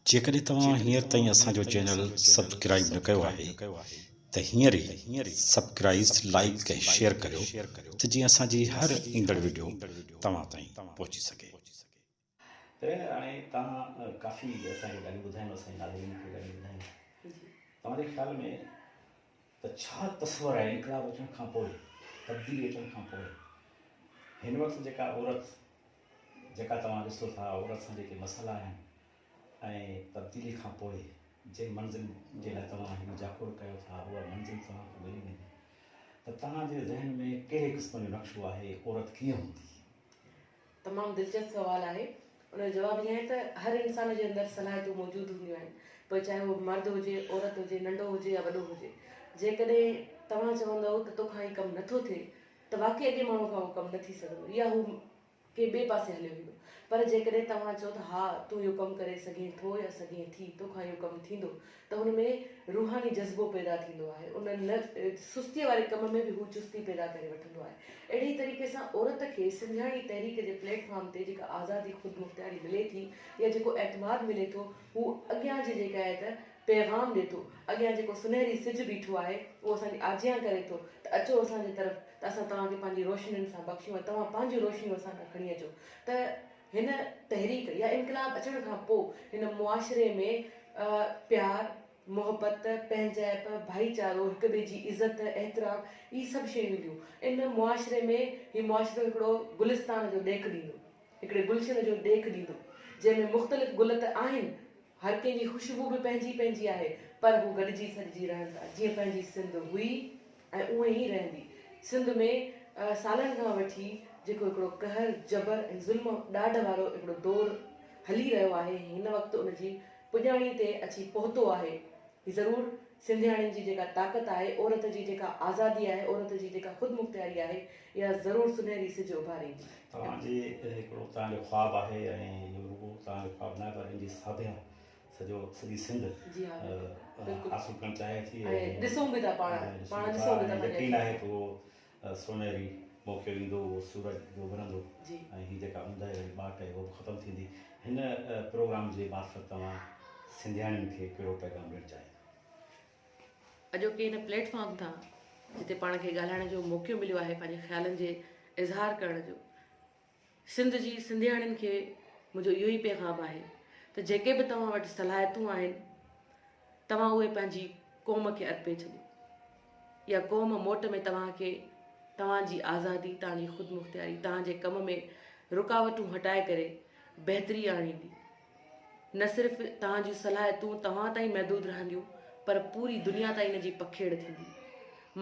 جيڪڏهن توهان هينئر تائين اسان جو چينل سبڪرائيب نه ڪيو آهي ته هينئر ئي سبڪرائيز لائيڪ ۽ شيئر ڪريو ته جيئن اسان جي هر ايندڙ وڊيو توهان تائين پهچي سگهي. ته هاڻي توهان ڪافي اسان کي ڳالهيون ٻڌايون اسان جي ناظرين کي ڳالهيون ٻڌايون توهان جي خيال ۾ ته ڇا تصور آهي انقلاب اچڻ کان پوء، تبديلي اچڻ کان پوء هن وقت جيڪا عورت جيڪا توهان ڏسو ٿا عورت سان جيڪي مسئلا آهن ۽ تبديلي کان پوء جن منزل جي لاء توهان هن جاکوڙ ڪيو ٿا اها منزل توهان کي ملي ويندي ته توهان جي ذهن ۾ ڪهڙي قسم جو نقشو آهي عورت ڪيئن هوندي. تمام دلچسپ سوال آهي. ان جو جواب هيئن آهي ته هر انسان جي اندر صلاحيتون موجود هونديون آهن پوء چاهي اهو مرد هجي، عورت هجي، ننڍو هجي يا وڏو هجي. جيڪڏهن توهان چوندؤ ته تو کان هي ڪم نٿو ٿئي ته واقعي اڳئين ماڻهوء کان اهو ڪم نه ٿي سگهندو يا هو ڪنهن ٻئي پاسي هليو ويندو. پر جيڪڏهن توهان چئو ته ها تون اهو ڪم ڪري سگهين ٿو يا سگهين ٿي، تو کان اهو ڪم ٿيندو ته هن ۾ روحاني جذبو پيدا ٿيندو آهي، ان نه سستيء واري ڪم ۾ به هو چستي پيدا ڪري وٺندو آهي. اهڙي ئي طريقي سان عورت کي سنڌياڻي تحريڪ جي پليٽ فارم تي جيڪا آزادي خودمختياري ملي ٿي يا جيڪو اعتماد ملي ٿو هو اڳيان جي جيڪا آهي ته پيغام ڏي ٿو، اڳيان جيڪو سنهري سج بيٺو آهي اهو اسان جي آجيان ڪري ٿو ته اچو اسان جي طرف ته اسان توهان کي پنهنجي روشنين سان بخشيون ۽ توهان پنهنجون روشنيون اسان ڏانهن کڻي اچو ته هن تحريڪ يا انقلاب اچڻ کان پوء هن معاشري ۾ پيار، محبت، پنهنجائپ، ڀائيچارو، هڪ ٻئي جي عزت، احترام اهي سڀ شيون اينديون. ان معاشري ۾ هي معاشرو هڪڙو گلستان جو ڏيک ڏيندو، هڪڙي گلشن جو ڏيک ڏيندو، جنهن ۾ مختلف گل ته آهن هر ڪنهن جي خوشبو به پنهنجي پنهنجي آهي پر هو گڏجي سڏجي رهن ٿا جيئن پنهنجي سنڌ هئي ۽ اونئين ئي رهندي. سنڌ ۾ سالن کان وٺي جيڪو هڪڙو قهر، جبر ۽ ظلم ڏاڍ وارو هڪڙو دور هلي رهيو آهي هن وقت ان جي پڄاڻي تي اچي پهتو آهي ضرور سنڌياڻين جي جيڪا طاقت آهي، عورت جي جيڪا آزادي آهي، عورت جي جيڪا خودمختياري آهي، اها ضرور سنهري سج اڀاريندي. توهان جي هڪڙو توهان جو خواب آهي ۽ اهو رڳو توهان جو خواب ناهي پر ان جي ساڀيان سڄو سڄي سنڌ جي ها بلڪل بلڪل حاصل ڪرڻ چاهي ٿي ۽ ڏسون به ٿا پاڻ پاڻ ڏسون ٿا ۽ يقين آهي ته اهو سونهري موکيو ايندو اهو سورج ڊوڀرندو ۽ هي جيڪا اوندهه واري ٻاٽ آهي اها به ختم ٿيندي. هن پروگرام جي معرفت توهان سنڌياڻين کي ڪهڙو پيغام ڏيڻ چاهيندا؟ اڄوڪي هن پليٽ فارم تان جتي پاڻ کي ڳالهائڻ جو موقعو مليو آهي پنهنجي خيالن جي اظهار ڪرڻ جو، سنڌ جي سنڌياڻين کي منهنجو اهو ئي پيغام آهي ته جيڪي به توهان وٽ صلاحيتون آهن توهان اهي پنهنجي قوم کي ارپي ڇڏيو يا قوم موٽ ۾ توهان کي توهان جي آزادي توهان جي خودمختياري توهان جي ڪم ۾ رڪاوٽون هٽائي ڪري بهتري آڻيندي نه صرف توهان جون صلاحيتون توهان تائين محدود رهنديون پر پوري دنيا تائين ان جي پکيڙ ٿيندي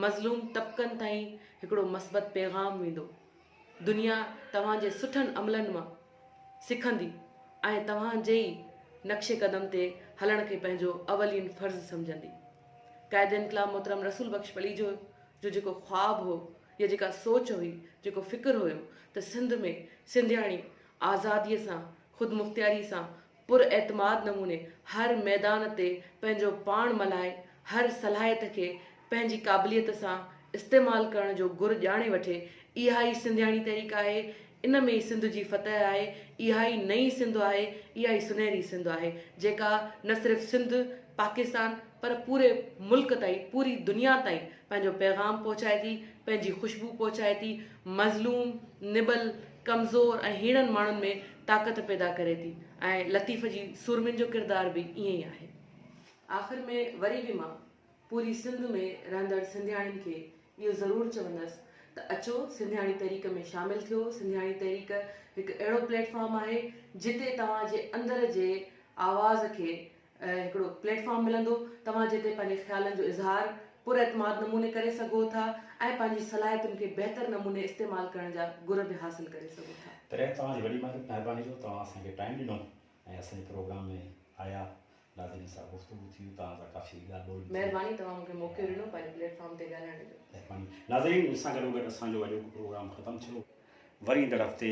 مظلوم طبقن تائين هڪڙو مثبت پيغام ويندو دنيا توهان جي سٺن عملن مان سکندي ۽ توهان جي ئي نقش قدم تي هلڻ کي پنهنجو اولين فرض سمجهندي. قائد انقلاب محترم رسول بخش پليجو جو جيڪو خواب هو يا جيڪا سوچ هئي، جيڪو فڪر هيو ته سنڌ ۾ سنڌياڻي آزاديء سان، خودمختياريء سان پر اعتماد نموني هر ميدان تي پنهنجو پاڻ ملهائي هر صلاحيت کي پنهنجي قابليت سان استعمال ڪرڻ جو گر ڄاڻي وٺي اها ئي سنڌياڻي تحريڪ آهي ان ۾ ئي سنڌ جي فتح آهي اها ئي نئين سنڌ آهي اها ئي سنهري سنڌ آهي جيڪا نه صرف سنڌ پاڪستان پر پوري ملڪ تائين پوري دنيا تائين پنهنجو پيغام پهچائي ٿي پنهنجي خوشبو پهچائي ٿي مظلوم نٻل ڪمزور ۽ هيڻن ماڻهن ۾ طاقت پيدا ڪري ٿي ۽ لطيف جي سورمين جو ڪردار به ائين ئي آهي. آخر ۾ وري به مان پوري سنڌ ۾ رهندڙ سنڌياڻين کي اهو ضرور چوندس ته اچو سنڌياڻي تحريڪ ۾ شامل ٿيو، سنڌياڻي تحريڪ هڪ اهڙو پليٽ فارم آهي جتي توهان جي اندر جي آواز کي هڪڙو پليٽ فارم ملندو توهان جتي پنهنجي خيالن جو اظهار پر اعتماد نموني ڪري سگهو ٿا ۽ پنهنجي صلاحيتن کي بهتر نموني استعمال ڪرڻ جا گر به حاصل ڪري سگهو ٿا. پهريائين توهان جي وڏي مهرباني جو توهان اسان کي ٽائيم ڏنو ۽ اسان جي پروگرام ۾ آيا ناظرين سان گفتگو ٿي توهان سان ڪافي ڳالهه ٻولهه به ٿي. مهرباني توهان مون کي موقعو ڏنو پنهنجي پليٽ فارم تي ڳالهائڻ جو. مهرباني ناظرين سان گڏوگڏ اسان جو اڄوڪو پروگرام ختم ٿيو وري ايندڙ هفتي